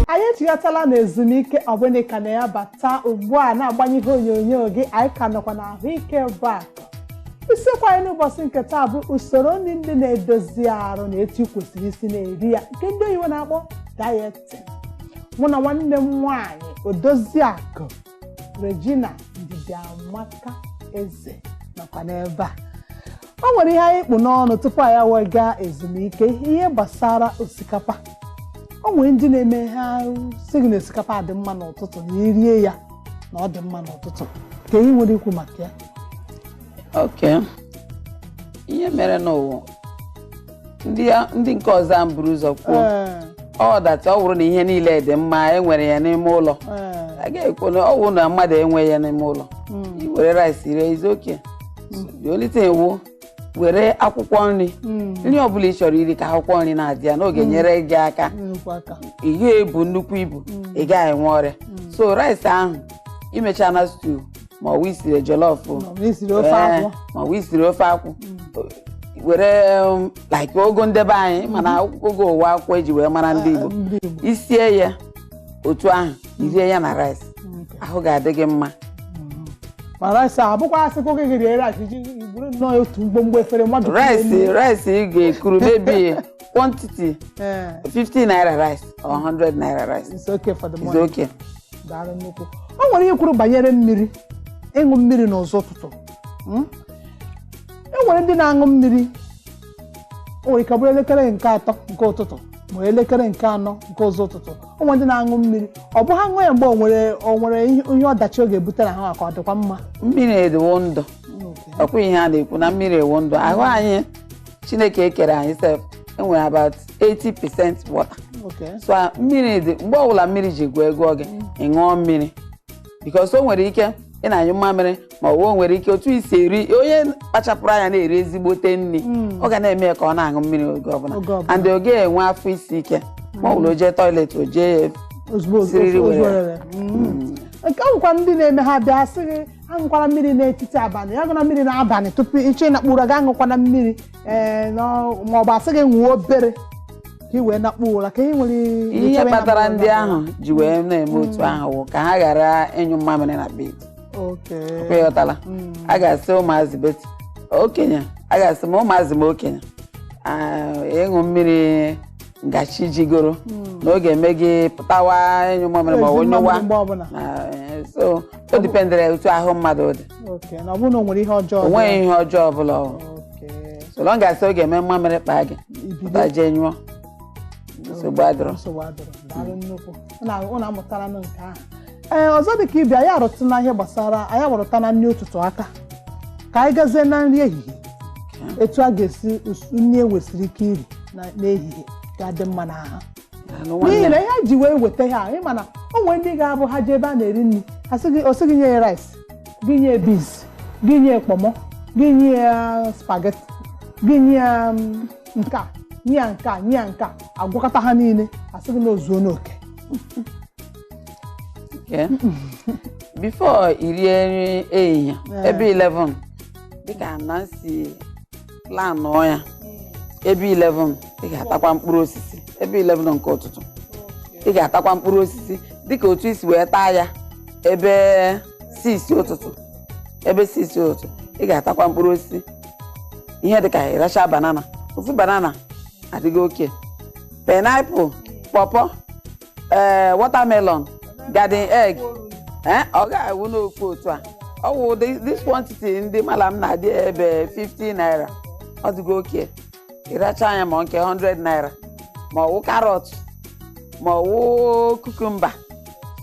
anyị echighatala na ezumike ọ bụ na ị ka na-abata ugbu a na-agbanye ihe onyonyo gị anyị ka nọkwa na ahụike bụ akụ isiokwu anyị n'ụbọchị nke taa bụ usoro nri ndị na-edozi arụ na etu ị kwesịrị isi na-eri ya nke ndị oyibo na-akpọ dieting mụ na nwanne m nwaanyị odozi akụ regina ndidiamaka eze nọkwa n'ebe a o nwere ihe anyị kpụ n'ọnụ tupu anyị wee gaa ezumike ihe gbasara osikapa o nwere ndị na-eme ha sị gị na osikapa dị mma n'ụtụtụ na i rie ya na ọ dị mma n'ụtụtụ kee ihe i nwere ikwu maka ya okay ihe mere n'ụwa ndị ndị nke ọzọ a m buru ụzọ kwuo Ee, wụ that ọ bụrụ na ihe niile dị mma e nwere ya n'ime ụlọ ee, a ga-ekwu na ọ bụrụ na mmadụ enweghị ya n'ime ụlọ mm, i were rice rie it's okay only thing wụ were akwụkwọ nri mm, nri ọbụla ị chọrọ iri ka akwụkwọ nri na-adị ya na ọ ga-enyere gị aka nnukwu aka. ị gaghị ebu nnukwu ibu ị gaghị enwe ọrịa so rice ahụ i mecha na stew ma ọ bụ i siri jollof o, Ma ọ bụ i siri ofe ee, akwụ. ma ọ bụ i siri ofe akwụ were um, like ụgụ ndị be anyị ma na ụgụ wụ akwụkwọ e ji wee mara ndị Igbo ndị Igbo. i sie ya otu ahụ i rie ya na rice Okay. ahụ ga-adị gị mma ma rice abụkwa a sịkwa gị rie rice i je buru nnọọ otu mgbomgbo efere mmadụ rice rice ị ga-ekuru maybe quantity ee 50 naira rice or 100 naira rice it's okay for the is morning okay daalụ nnukwu o nwere ihe i kwuru banyere mmiri ịṅụ mmiri n'ụzọ ụtụtụ Mm? e nwere ndị na-aṅụ mmiri o nwere ike ọ bụrụ elekere nke atọ nke ụtụtụ ma elekere nke anọ nke ụzọ ụtụtụ o nwere ndị na-aṅụ mmiri ọ bụ ha ṅụọ ya mgbe o nwere o nwere ihe ihe ọdachi ọ ga-ebutere ha ka ọ dịkwa mma mmiri wụ ndụ ọkwa ihe a na-ekwu na mmiri wụ ndụ ahụ anyị chineke kere anyị sef e nwere about 80 percent water Okay. so a- mmiri dị mgbe ọbụla mmiri ji gụọ gị agụụ ị ṅụọ mmiri because o nwere ike ị na-anyụ mmamịrị ma ọ bụ o nwere ike otu i si eri onye kpachapụrụ anya na-eri ezigbote nri ọ ga na-eme ya ka ọ na-aṅụ mmiri oge ọbụla Oge ọbụla. and ọ gaghị enwe afọ isi ike mgbe ọbụla o jee toilet o jee ya ozugbo Siriri ozugbo werere. Mm. nke ọ bụkwa ndị na-eme ha bịa sị gị aṅụkwala mmiri n'etiti abalị gị aṅụna mmiri n'abalị tupu ị chọọ ịnakpu ụra gị aṅụkwana mmiri ee n'ọ- ma ọ bụ a sị gị ṅụọ obere ka ị wee nakpuo ụra ka ị nwere ihe ịchọwa ịnakpu kpatara ụra ndị n'abalị. ahụ ji wee na-eme otu ahụ wụ ka ha ghara ịnyụ mmamịrị na bed Okay. aghọtala m. a ga-asị ụmụazị but okenye a ga-asị ma ụmụazị ma okenye ah, ịṅụ mmiri ngachi jigoro hmm. na ọ ga-eme gị pụtawa ịnyụ mamịrị ma ọ nyụwa eh, so o dipendere otu ahụ mmadụ dị onweghị ihe ọjọọ ọbụla so long as ọ ga-eme mmamịrị kpaa gị pụta jee nyụọ nsogbu adịrọ ụnụ amụtara nụ nke ahụ ee ọzọ dị ka ebe anyị arụtụna ihe gbasara anyị arụtụna nri ụtụtụ aka ka anyị gazie na nri ehihie etu a ga-esi us- nri e nwesịrị ike iri na- n'ehihie ga-adị mma na ahụ Daalụ n'ihi nwanne na m. ihe anyị ji wee weta ha anyị ma na o nwere ndị ga-abụ ha jee ebe a na-eri nri ha sị gị- ọ sị gị nye ya rice gị nye ya beans gị nye ya kpọmọ gị nye ya spaghetti gị nye ya mm, nke a nye ya nke a nye ya nke a agwakọta ha niile asị gị na o zuo n'oke Okay. before i rie nri ehihie Ee. ebe 11 dịka na m si planụọ ya ebe 11 ị ga-atakwa mkpụrụ osisi ebe 11 nke ụtụtụ ị ga-atakwa mkpụrụ osisi dịka otu i si wee taa ya ebe 6 ụtụtụ ebe 6 ụtụtụ ị ga-atakwa mkpụrụ osisi ihe dị ka ịracha banana ofu banana adịgo okay pineapple pawpaw ee watermelon garden egg ee ọ ga-awụ n'ofu otu a ọ wụ this quantity ndị malam na-edebe 50 naira ọ dịgo okay ị rachaa ya ma nke 100 naira ma ọwụ carrot ma ọwụ cucumber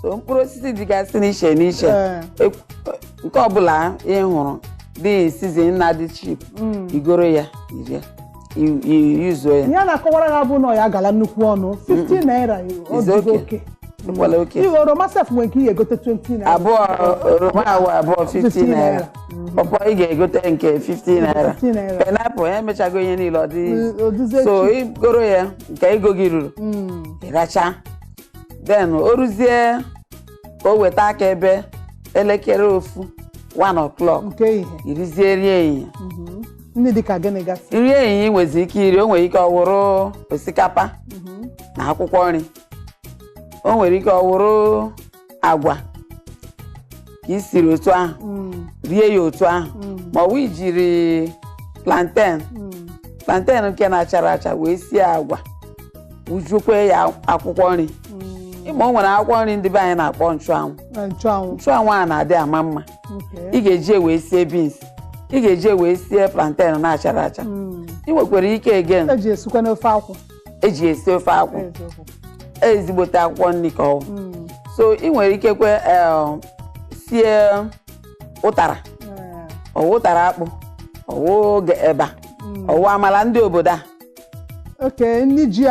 so mkpụrụ osisi dịgasị n'iche n'iche Ee. Ekwu- nke ọbụla ị hụrụ dị season na dị cheap Mm. i goro ya i rie i- i- yuzuo ya ihe a na-akọwara ha bụ na ya agala nnukwu ọnụ 50 naira ọ Is dịgo okay. okay Ekwela oke. ihe oroma sef nwere nke ị ga-egote 20 naira abụọ oroma awụ abụọ 50 naira pawpaw ị ga-egote nke 50 naira 50 naira. pineapple ya emechago ihe niile ọ dị ọ dịzi so cheap i goro ya nke ego gị ruru Mm, ị racha then o ruzie ka o weta aka ebe elekere ofu 1 o'clock nke ehihie i rizie nri ehihie Mhm. ndị dịka gịnị gasị nri ehihie e nwezi ike iri o nwere ike ọwụrụ osikapa Mhm. na akwụkwọ nri o nwere ike ọwụrụ agwa ka i siri otu ahụ Mm, rie ya otu ahụ mm, ma ọ bụ i jiri plantain mm. plantain nke na-achara acha wee sie agwa wujukwe ya akwụkwọ nri Mm. ị ma o nwere akwụkwọ nri ndị be anyị na-akpọ nchụanwụ Na nchụanwụ. nchụanwụ a na-adị ama mma Okay. ị ga-eji wee sie beans ị ga-eji wee sie plantain na-achara acha Mm. ị nwekwara ike again E ji esikwanụ ofe akwụ. eji esi ofe akwụ ezigbote akwụkwọ nri ka ọwụ hmm. so ị nwere ike kwe eh, sie ụtara hmm. ọwụ ụtara akpụ ọwụ oge eba hmm. ọwụ amala ndị obodo a okay nri ji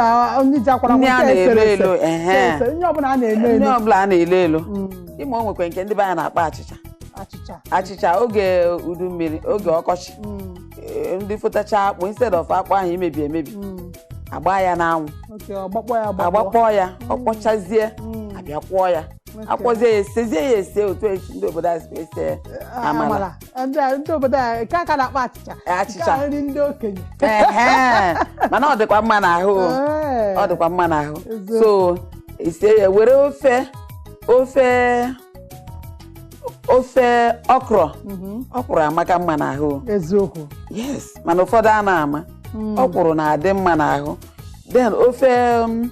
nri ji akwara nri a na-elo elo nri ọbụla a na-elo elo nri ọbụla a na-elo elo ịma o nwekwa nke ndị be anyị na-akpọ achịcha achịcha oge udu mmiri oge ọkọchị eh, ndị fotacha akpụ instead of akpụ ahụ imebi emebi Mm. agba ya n'anwụ Okay, agbakpọọ ya agbakpọ. agbakpọọ ya ọ kpọchazie Mm. abịa kwọọ ya Okay. akwọzie ya esezie ya ese otu esi ndị obodo a si ese ya. Ah, amala. amala. Ndị a- ndị obodo a nke a ka a na-akpọ achịcha Achịcha. Nke a nri ndị okenye Ehe. mana ọ dịkwa mma n'ahụ o. Ee. ọ dịkwa mma n'ahụ Eziokwu. so ise ya were ofe ofe ofe ọkrọ Mhm. ọkwụrụ amaka mma n'ahụ eziokwu yes mana ụfọdụ anaghị ama Mm. ọkwụrụ na-adị mma n'ahụ then ofe um,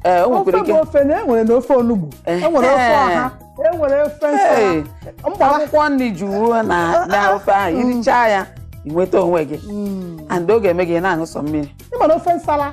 eh, o ofe nwekwara ike bụ ofe na enwere na ofe onugbu Ehe. enwere ofe ọha enwere ofe Hey, nsala mgbe ọwụ akwụkwọ nri juru na na ofe ahụ irichaa ya inweta onwe gị Mm. and ọ ga-eme gị ị na-aṅụ sọ mmiri ịma na ofe nsala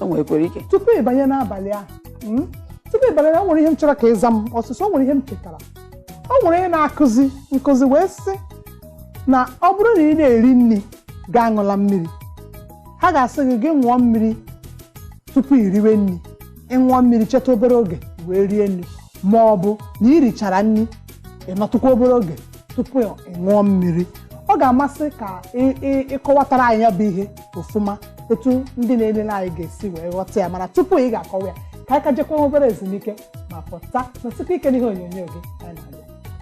o nwekwara ike tupu ị banye n'abalị ahụ mm, tupu ị banye na o nwere ihe m chọrọ ka ị za m ọsịsọ o nwere ihe m chetara o nwere ihe a na-akụzi nkụzi wee sị na ọ bụrụ na ị na-eri nri gị aṅụla mmiri ha ga-asị gị gị ṅụọ mmiri tupu i riwe nri ịṅụọ mmiri chetụ obere oge wee rie nri ma ọ bụ na i richara nri ị nọtụkwa obere oge tupu ị ṅụọ mmiri ọ ga-amasị ka ị- ị- ịkọwatara anyị ya bụ ihe ọfụma etu ndị na-elele anyị ga-esi wee ghọta ya mana tupu ị ga-akọwa ya ka anyị ka jekwa obere ezumike ma pụta nọsikwa ike n'ihe onyonyo gị anyị na-abịa